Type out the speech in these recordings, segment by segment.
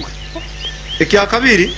munonga. Ekya kabiri,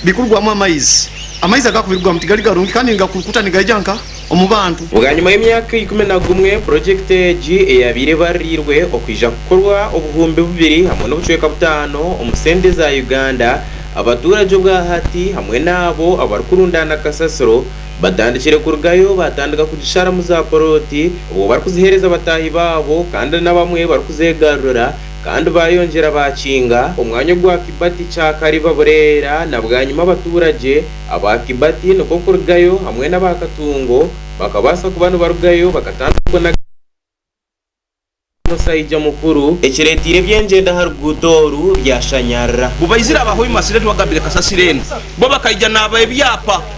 bikurugwamu amaizi. Amaizi agarikubirugwamu tigari garungi kandi nigakurukuta nigahija nka omu bantu. Bwanyima y'emyaka ikumi na gumwe, purojekiti egi eyaabaire ebaririirwe okwija kukorwa obuhumbi bubiri hamwe n'obucweka butaano omu sente za Uganda, abatuurage obwahati hamwe n'abo abarikurundaana kasasiro batandikire kurugayo baatandika kugisharamu zaapulooti obwo barikuziheereza bataahi baabo kandi n'abamwe barikuzeegarurira kandi baayongyera baakinga. Omwanya ogwa Kibati, Kyakariba, Bureera na bwanyima abatuuragye aba Kibati nikwo kurugayo hamwe n'aba Katungo bakabaasa kuba nibarugayo bakatandika okunaga Kibati n'omusaija mukuru, ekireeteire eby'engyendo aha ruguuto oru byashanyarara. Bubaizire aba Hoima Sireti wagambire kasasiro enu bo bakaija naaba ebyapa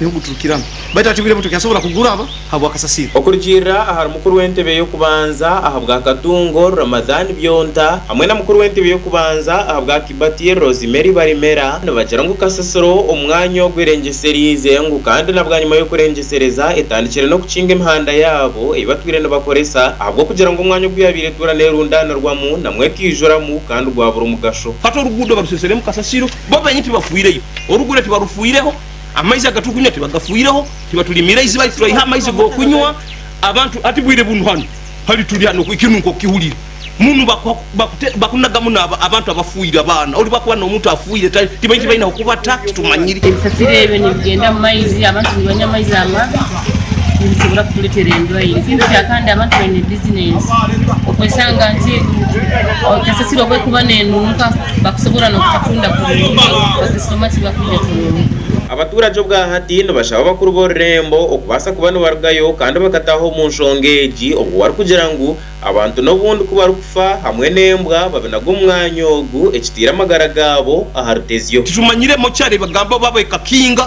niho guturukiramu baitu hati obwire buto kyasobora kuguraba habwa kasasiro. Okurugiirira ahari mukuru w'entebe y'okubanza ahabwa Katungo, Ramadhan Byonta, hamwe na mukuru w'entebe y'okubanza ahabwa Kibati, Rosemary Barimera, nibagira ngu kasasiro omu mwanya ogu erengyesereize ngu kandi na bwanyima y'okurengyesereza etandikire n'okukinga emihanda yaabo ei batwire nibakoresa ahabw'okugira ngu omwanya ogu yaabaire etuura neerundaanirwamu namwo ekaijuramu kandi gwabura omugasho. Hati oruguudo baruseseremu kasasiro bo beenyini tibafiireyo, orugure tibarufiireho. Amaizi aga turikunywa tibagafuireho, tibaturimiire eiziba rituraiha amaizi g'okunywa. Abantu hati bwire bunu hanu hari turi hanu eki nu nk'okukihurira munu bakunagamu naaba abantu abafiire, abaana ori bakuba n'omuntu afiire tibaine eki baine ahu kubata titumanyire. Ebisasiro ebyo nibigyenda mu maizi abantu nibanywa amaizi amabi. nibisobora kuturetera endwaire ekirukugira kandi abantu baine business okwesanga nti kasasiro obwekuba nenunka bakusobora nokutatunda kurungi bakasitoma tibakwija kurungi. Abaturage obwahati nibashaba abakuru b'orurembo okubaasa kuba nibarugayo kandi bakataaha omu nshonga egi obwo barikugira ngu abantu n'obundi ku barikufa hamwe n'embwa babinaga omu mwanya ogu ekitaire amagara gaabo aha rutezyo. Tijumanyiremu kyari bagamba oba bekakinga.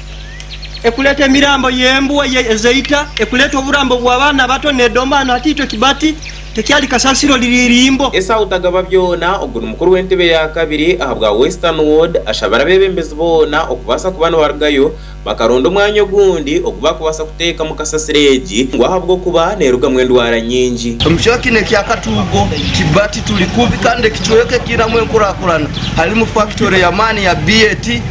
ekuleeta emirambo y'embwa ezeita, ekuleeta oburambo bw'abaana bato nedomba hanu hataitwe kibati, tekyali kasasiro riri irimbo. Esau Tagababyona ogu ni mukuru w'entebe ya kabiri ahabwa Western Ward ashabira abebembezi boona okubaasa kuba nibarugayo bakaronda omwanya ogundi ogu bakubaasa kuteekamu kasasiro egi ngu ahabw'okuba nerugamu endwara nyingi. Omucweka ni ekya Katuugo kibati turi kubi kandi ekicweka ekiinamu enkurakurana harimu fakitori y'amaani ya BAT,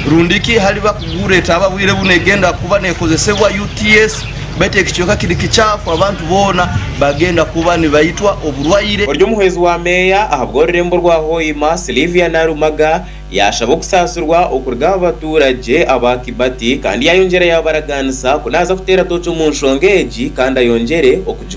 Rundi ki hariba kugura etaaba bwire bu negenda kuba nekozesebwa UTS baitu eki kyoka kiri kikyafu abantu boona bagenda kuba nibaitwa oburwaire. Ori omuhwezi wa meeya ahabwa orurembo rwa Hoima, Sylivia Narumaga yashaba okusaasirwa okuruga aha batuuragye aba Kibati kandi yayongyera yabaragaanisa ku naaza kuteera tooki omu nshonga egi kandi ayongyere okugikora.